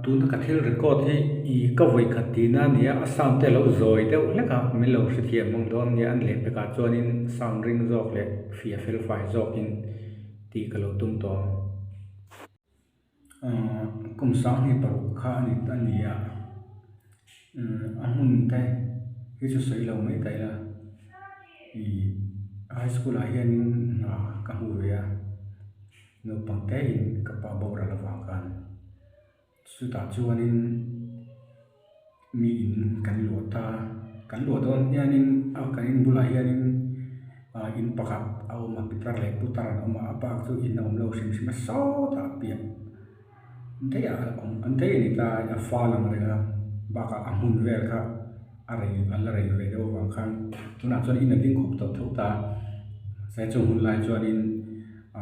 Tuna ka thil record hi i ka vawi khat tihna a ni a, a sound te a lo zawi deuh hlek a, min lo hrethiam hmang dawn a nia, an leh vek ah chuan in sound ring zawk leh fia felfai zawk in tih ka lo tum tawh a, kum sang hi paruk kha a ni ta ni a, a hmun te hi chu sawi lo mai ta ila ih high school ah hian in hna ka hmu ve a. Naupang te in ka pa boral avang khan chutah chuanin mi in kan luah ta, kan luah dawn hianin a kan in bulah hianin ah in pakhat a awm a pitar leh putar an awm a a bak chu in a awm lo hrim hrima sawtah a piah. daih ah a awm a daih a ni ta a fa lang leh a bak ah a hmun vel kha a rei a la rei ve deuh vang khan tun ah chuan in a ding khawp tawh tho ta sai chung hun lai chuan in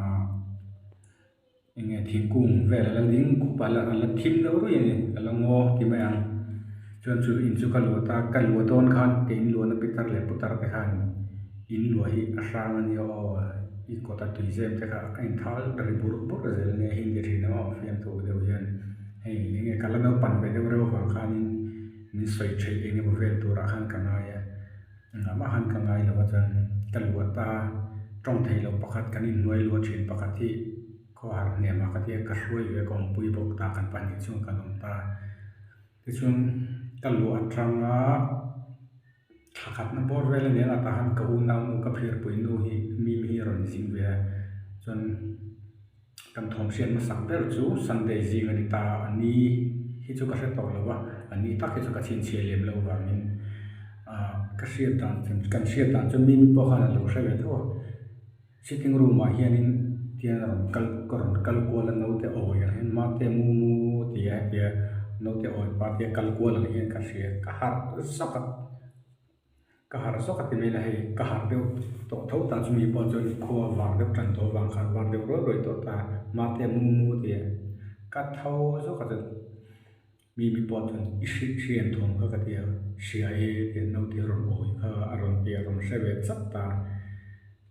ah eng nge thingkung vel a la ding khup a la thim deuh ruih a ni a la ngaw ti mai ang. Chuan chu in chu ka luat a, ka luah dawn khan ka in luahna pitar leh putar te khan in luah hi a hrang a nia aw, i kawta tuizem te kha a in thal ri bur bur zel nia, hindi thin ho a fiam tu deuh hian hei eng nge ka la naupang ve deuh reuh vang khanin min sawi theih eng emaw vel turah khan ka ngai a, engah mah khan ka ngai lo a chuan ka luah ta a, tawng thei lo pakhat kan in hnuai luah thin pakhat hi khawhar hnemah ka tia ka hruai ve a kawngpui bawk ta kan pahnih chuan kan awm ta a. Tichuan ka luh atanga thla khatna bawr vel a ni a, a tah hian ka u nau nu ka phirpui nu hi Mim hi a rawn zing ve a, chuan kan thawm hriat hmasak ber chu Sunday zing a ni ta, a ni hi chu ka hre tawh lo va, a ni tak hi chu ka chhinchhiah lem lo vangin ahh ka hriat dan kan hriat dan chuan Mim pawh khan a lo hre ve thauh a. Sitting room ah hianin tian a rawn kal ka rawn kal kual a naute awi ang hian mate mumu ti a heti a naute awi party a kal kual ang hian ka hria ka harh zawk a ka harh zawk a ti mai la hei ka harh deuh tawh tho ta chu mi pawh chuan khua vang deuh tan tho vang kha var deuh ruai ruai tawh ta mate mumu ti a ka tho zawk a chuan. Mi mi pawh chuan i hriat hriat thawm kha ka ti a, hria e tih naute a rawn awi kha a rawn ti a rawn hre ve chap ta.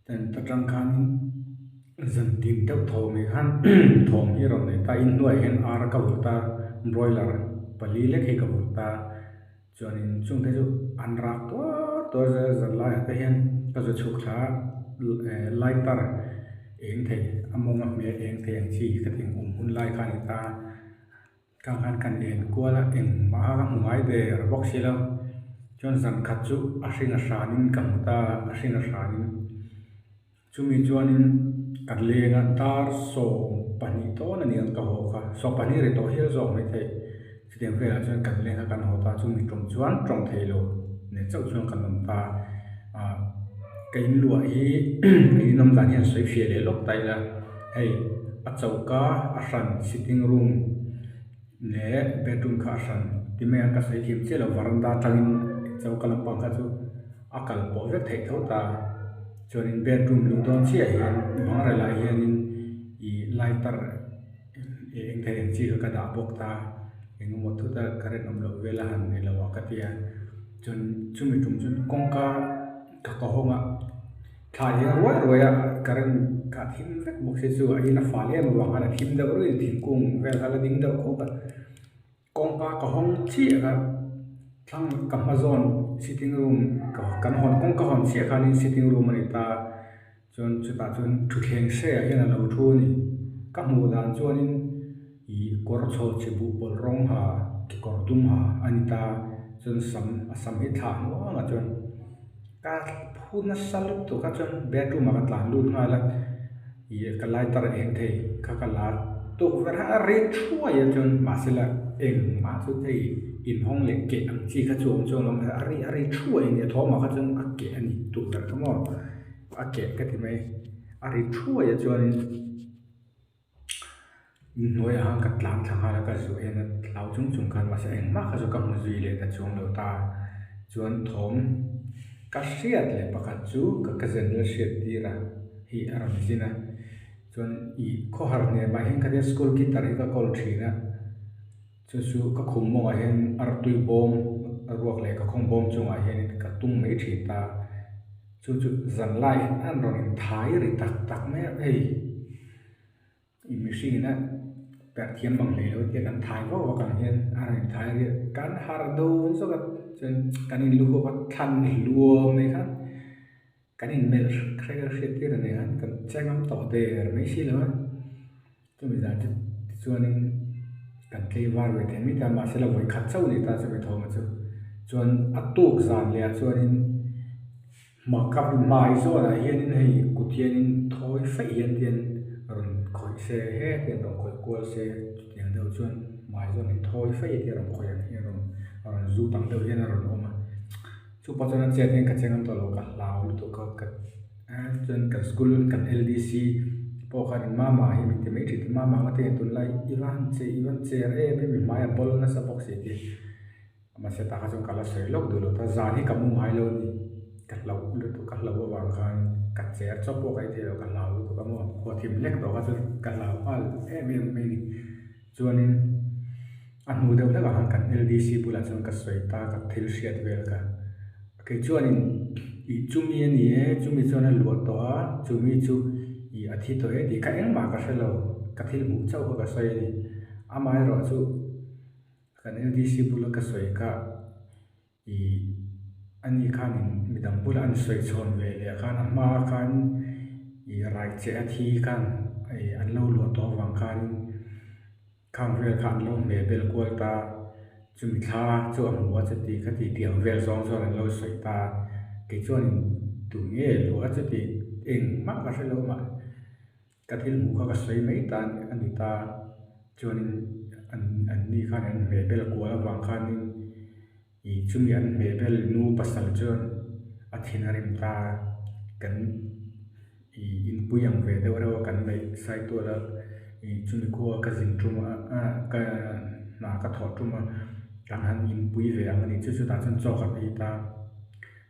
Chuan ta tang khanin zan dim deuh tho mai khan thawm hi a rawn nei ta, in hnuaiah hian ara ka vawt a, broiler pali lek hi ka vawt ta, chuanin chungte chu an rak tuar tuar zet a, zan laiah te hian ka za chhuk thla a eh lighter eng thei a mawng a hmel eng thei ang chi ka thinawm hun lai kha a ni ta. Ka nghan kan en kual a, engmah a ka hmu ngai ve a bawk si lo. Chuan zan khat chu a hringa hranin ka hmu ta, a hringa hranin. Chumi chuanin ka leng a dar sawm pahnih dawn a ni ang ka haw kha. Sawm pahnih a ri tawh hial zawk mai theih. Chutiang velah chuan kan leng a kan haw ta, chumi tawng chuan tawng thei lo neh chauh chuan kan awm ta. Ahh ka in luah hi, ka in awm dan hi an sawi hria leh lawk ta ila. Hei, a choka a hran, sitting room leh bedroom kha a hran ti mai ang ka sawi thiam chiah lo, varanda atangin choka lampang kha chu a kal pawh vek theih tho ta, chuanin bedroom luh dawn chiah ah hian bang rel ah hianin ih lighter ih eng thei ang chi kha ka dah bawk ta, eng emaw thut a ka rinawm loh vel a han neilo a ka ti a, chuan chumi tum chuan kawngka ka ka hawng a. Thlai hi a ruai ruai a, current kha a thim vek bawk si chu aiin a fal em avang khan a thim deuh ruih a, thingkung vel kha la ding deuh khawp a, kawngka ka hawng chiah kha thlang ka hma zawn sitting room kan hawn kawngka hawn chiah khan in sitting room a ni ta chuan chutah chuan thutthleng hreah hian a lo thu a ni ka hmuh dan chuan in-- I kawr chhawhchhi buhpawlh rawng ha, kekawr dum ha a ni ta chuan sam a sam hi thlah nghal a chuan ka phu nasa lutuk tak a chuan bedroom ah ka tlan lut nghal a ih ka lighter eng thei kha ka la tukverh a a rit thuai a chuan mahse lag engmah chu hei inhawng leh keh ang chi kha chu a awm chu alawm a ri a ri thuai a ni a thawhmah kha chuan a keh a ni tukverh ka maw a keh ka ti mai a ri thuai a chuan in. in hnuai ah khan ka tlan thla khan ka zu en a hlau chung chung khan mahse eng mah kha chu ka hmu zui leh ta chuang lo ta chuan thawm ka hriat leh pakhat chu ka ka general hriat tir a hi a rawn zin a chuan ih khawhar hnem ah hian ka tia school guitar hi ka kawl thin a. Chu chu ka khum mawngah hian artui bawm a ruak leh ka khawng bawm chungah hianin ka tung mai thin ta. Chu chu zanlai en a rawn in thai ri tak tak mai a hei i mihring ina perh thiam mang hlei lo tia kan thai vau vakang hian a rawn in thai riah kan har dawn zawk a chuan kan in lukhawk a thlan hluam mai khan. Kan inmelh hriat hriat tir a nia, kan che ngam tawh der mai si lo a, chumi zan chu tichuanin kan tleivar ve thei mai ta, mahse la vawi khat chauh leh ta chumi thawmah chu, chuan a tuk zan leh ah chuanin hmaka hmai zawnah hianin hei kut hianin thawi feih hian tian rawn khawih se he tian rawn khawih kual se chutiang deuh chuan hmai zawn in thawi feih a tia rawn khawih ang hian a rawn zut ang deuh hian a rawn awm a. Chu pawh chuan a chian hian ka che ngam tawh lo ka hlau lutuk a ka chuan kan school kan ldc pawh khan in mama hi min ti mai thin chu mama eng a teiin a tun lai i va han che i va han che er em em i hmai ah bawlh nasa bawk si tih mahse tah khan chuan ka la sawi lawk duh lo ta zan hi ka mu ngai lo a ni ka hlauh lutuk ka hlauh avang khan ka che er chawp pawh ka ithe lo ka hlau lutuk a maw khuathim lek tawh kha chu ka hlau nghal em em mai a ni. Chuanin a hnu deuh hlek ah kan LDC bulah chuan ka sawi ta ka thil hriat vel ka kei chuanin ih chumi a ni e chumi chuan a luah tawh a chumi chu ih a thi tawh e tih kha engmah ka hre lo ka thil hmuh chauh kha ka sawi a ni amah erawh chu kan LDC bula ka sawi ka. I anih khan in midang bulah an sawi chhawn ve leh a khan a hma ah khan i rai che a thi khan i an lo luah tawh avang khan in khang vel kha an lo hmeh bel kual ta chumi thla chu a hmu a chuti kha titi ang vel zawng zawng an lo sawi ta kei chuan in duh ngei luh a chuti eng hmang ka hrelo mah. Ka thil hmuh kha ka sawi mai ta a ni ta, chuanin anni khan an hmehbel kual avang khanin ih chumi an hmehbel nu pasal chuan a thin a rim ta, kan ih inpui ang ve deuh reuh a kan neih sai tual a, ih chumi khaw a ka zin ṭum a ah ka hna ka thawh ṭum a, kan han inpui ve ang a ni, chu chutah chuan chaw ka hmi ta.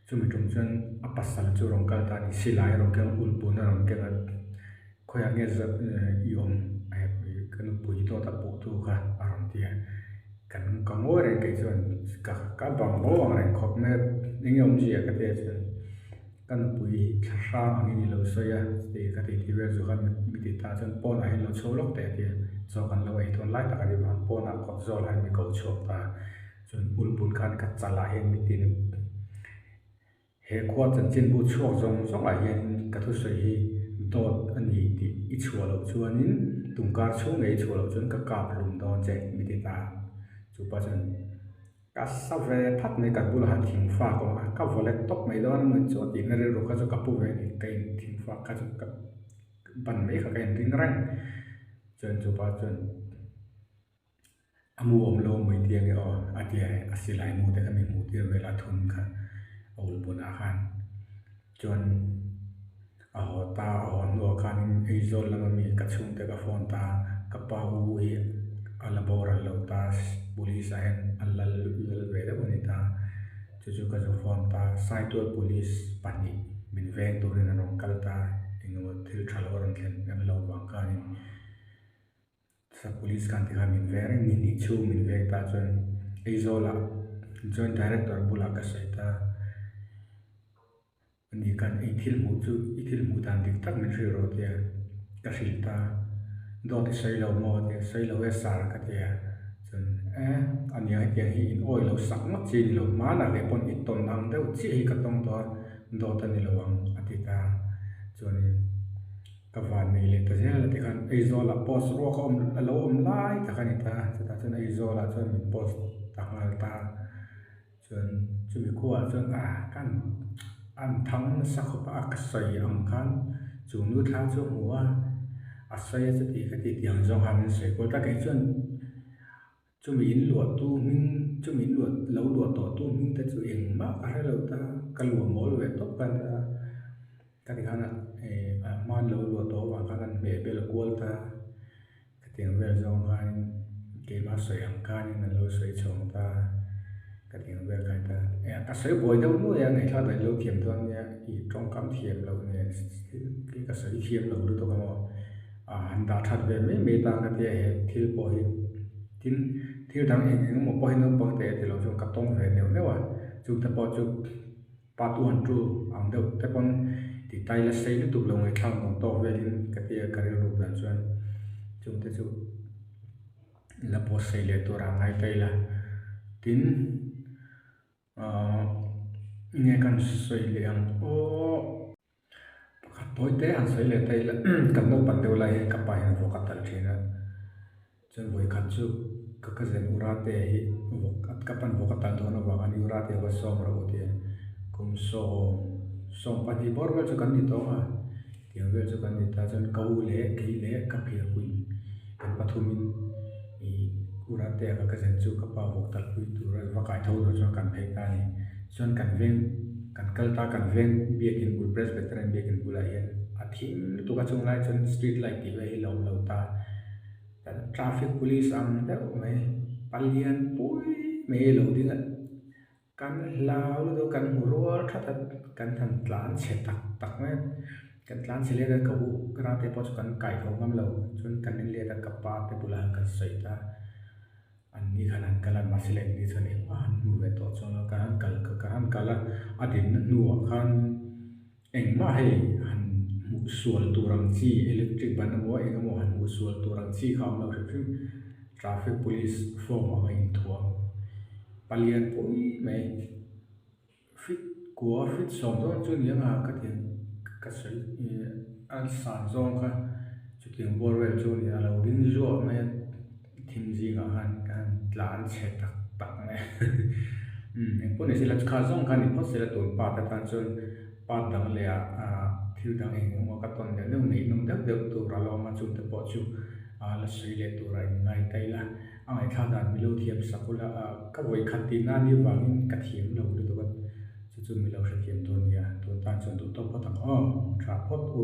Chumi tum chuan a pasal chu rawn kal ta a ni. Silai a rawn keng a, ulpuna a rawn keng a. Khawiah nge za i awm ka nupui dawt a puh tu kha a rawn ti a. Kan ka ngawi reng kei chuan ka ka bang bo ang reng khawp mai a. Eng nge awm zia ka ti a chuan ka nupui hi thla hrang ang in i lo sawi a tih ka ti ti vel chu kha mi ti ta chuan pawnah hi an lo chho lawk teh a ti a. Chaw kan lo ei thawn lai tak a ni vang. Pawnah kawt zawl ah hian mi ko chhuak ta. Chuan ulput khan ka chal ah hian min tin he khua chanchin bu chhuak zawng zawng ah hian in ka thusawi hi dawt a ni tih i chhuah loh chuan in tungkar chhung leh i chhuah loh chuan ka kap hlum dawn che mi ti ta chu pa chuan ka sa ve phat mai ka bul ah han thing fak awm a ka vawlek tawp mai dawn a mawni chu a tih na rilru kha chu ka pu ve a ni ka in thing fak kha chu ka ban mai kha ka in ring reng chuan chu pa chuan a mu awm lo mai diam nge aw a tia e a silai mu te ami hmuh tir vel a thun kha a awlh bun ah khan chuan a haw ta a haw hnu ah khan in aizawl lam ami ka chhung te ka phone ta ka pa u hi a la boral lo ta police ah hian a lal lal ve deuh a ni ta chu chu ka zu phone ta saituar police pahnih min veng tur in an rawn kal ta eng emaw thil tha lo a rawn thlen em lo vang khan in. Sa police kan ti kha min veng reng ni hnih chhung min veng ta chuan Aizawla joint director bulah ka sawi ta ani khan i thil hmuh chu i thil hmuh dan dik tak min hrilh ro tia ka hrilh ta dawti sawi lo maw tia sawi lo e sir ka ti a chuan eh ania hetiang hi in awi lo sak ngawt chi ni lo hmana ve pawn i tawn ang deuh chiah hi ka tawng tawh a dawt a ni lo ang a ti ta chuanin. Ka van nei leh ta zel a ti khan Aizawl ah post ruak a awm a lo awm lai tak a ni ta, chutah chuan Aizawl ah chuan min post ta nghal ta, chuan chumi khu ah chuan a ka an a an thang nasa khawp a, a ka sawi ang khan chung nu thla chu a hmu a, a sawi a chuti ka ti tiang zawng kha min sawi kual ta kei chuan. Chumi in luahtu hming, chumi in luah, lo luah tawhtu hming te chu engmah ka hre lo ta, ka luah mawl ve tawp ka nia, ka ti khan eh a hma lo luah tawh avang khan an hmeh vel kual ta, ka tiang vel zawng khanin keimah a sawi ang khanin an lo sawi chhawng ta, ka tiang vel ka ni ta, eh a sawi buai deuh nuai a, ngaihla dahin lo thiam dawn nia, ih tawngkam thiam loh nen, ka sawi thiam lo lutuk ang aw. Ah, an dah that ve mai mai ta ka tia he thil pawh hi. Tin, thil dang eng eng emaw pawh hi naupang te ti lo chuan ka tawng ve neuh neuh a, chung te pawh chu pa tu han ṭu ang deuh te pawn ti tai la sei lutuk lo ngaihtlak nuam tawk velin ka tia ka rilru dan chuan chung te chu la pawsei leh turah a ngai ta ila. Tin, Ahh enge kan sawi leh ang aww pakhat pawi te han sawi leh ta ila kan naupang deuh lai hi ka pa hian vawk a tal thin a chuan vawi khat chu ka cousin urate hi vawk ka pa'n vawk a tal dawn avang a ni urate va sawm rawh u tih a ni kum sawm sawm pahnih bawr vel chu kan ni tawng a. Tiang vel chu kan ni ta chuan ka u leh keih leh ka phiarpui kan pathumin ih Urate ava ka zen chu ka pa vawk tal pui tur a va kaitho zawh chuan kan phei ta a ni. Chuan kan veng kan kal ta kan veng biakin bul Presbyterian biakin bulah hian a thim lutuk a chung lai chuan street light tih vel hi la awm lo ta kan traffic police ang deuh mai palian pui mai a lo ding a. Kan hla lutuk a kan hmuh rual that a, kan han tlan chhe tak tak mai a, kan tlan chhe let a ka u ka ra te pawh chu kan kai kho ngam lo, chuan kan en let a ka pa te bulah hian kan sawi ta, an ni khan an kal a mahse le ni chuan engmah han hmu ve tawh chuan ka han kal ka han kal a, a dinna hnuah khan. Engmah hei han hmuh sual tur ang chi, electric ban emaw eng emaw han hmuh sual tur ang chi kha awm lo hrim hrim. Traffic Police form ang a inthuah ang. Pa lian pui mai. Fit kua fit sawm zawng chu ni ang a, ka ti ang. Ka sawi ih, a san zawng kha chutiang bual vel chu a ni a, a lo ding zuah mai a. Thim zingah khan ka han tlan chhe tak tak mai a eng pawh ni sela chukhat zawng khan ni phawt sela tun part a tan chuan part dang leh ah thil dang eng emaw ka tawn deuh deuh ngeihnawm deuh deuh tur a lo awm a chute pawh chu la sawi leh tura in ngai ta ila a ngaithla dan mi lo thiam sak ula ka vawi khat tih nan hi vangin ka thiam lo lutuk a chu chu mi lo hrethiam tur a ni a tun tan chuan duhtawk phawt ang aw awm tha phawt u.